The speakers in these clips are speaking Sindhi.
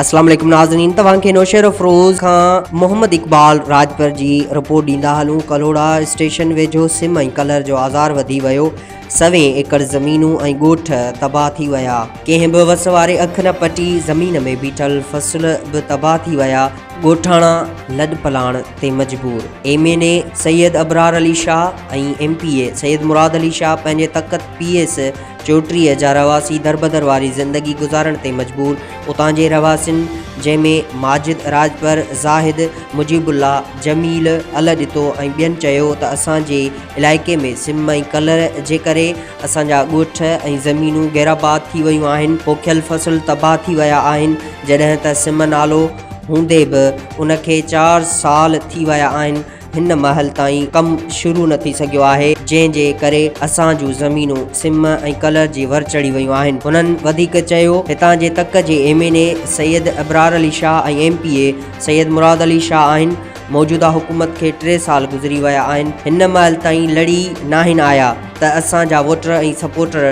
اسلام عليڪم ناظرين توهان کي نوشهرافروز کان محمد اقبال راڄپر جي رپورٽ ڏيندا هلون ڪلهوڙا اسٽيشن ويجهو سم ۽ ڪلر جو آزار وڌي ويو سوين ايڪڙ زمينون ۽ ڳوٺ تباهه ٿي ويا ڪنهن به وس واري اک نه پٽي زمين ۾ بيٺل فصل به تباهه ٿي ويا ڳوٺاڻا لڏ پلاڻ تي مجبور M N A Syed Abrar Ali Shah ۽ M P A Syed Murad Ali Shah پنهنجي تخت پي ايس چوٽريء جا رهواسي دربدر واري زندگي گذارڻ تي مجبور اتان جي رهواسين جنهن ۾ ماجد راڄپر، زاهد، مجيب الله، جميل، الهه ڏتو ۽ ٻين چيو ته اسان جي علائقي ۾ سم ۽ ڪلر جي ڪري اسان جا ڳوٺ ۽ زمينون غيرآباد ٿي ويون آهن، پوکيل فصل تباهه ٿي ويا آهن، جڏهن ته سم نالو هوندي به ان کي چار سال ٿي ويا آهن، هن مهل تائين ڪم شروع نه ٿي سگهيو آهي، جنهن جي ڪري اسان جون زمينون سم ۽ ڪلر جي ور چڙهي ويون آهن. هنن وڌيڪ چيو، هتان جي تڪ جي M N A Syed Abrar Ali Shah ۽ M P A Syed Murad Ali Shah آهن، موجوده حڪومت کي ٽي سال گذري ويا آهن، هن مهل تائين لڙي ناهن آيا ته اسان جا ووٽر ۽ سپورٽر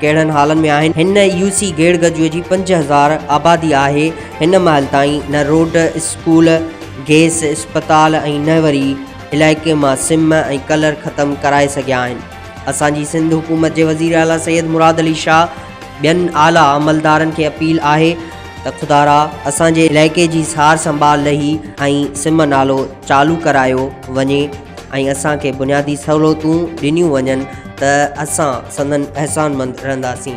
ڪهڙن حالن ۾ آهن. هن يو سي گيڙگجوء جي پنج هزار آبادي آهي. هن مهل تائين نه روڊ، اسڪول، گيس، اسپتال ۽ نه وري علائقي مان سم ۽ ڪلر ختم ڪرائي سگهيا آهن. اسان جي سنڌ حڪومت جي وزير اعليٰ سيد مراد علي شاهه ٻين اعليٰ عملدارن کي اپيل آهي ته خدارا اسان جي علائقي جي سار سنڀال لهي ۽ سم نالو چالو ڪرايو وڃي. ۽ اسان کي بنيادي سهولتون ڏنيون وڃن ته اسان سندن احسانمند رهنداسين.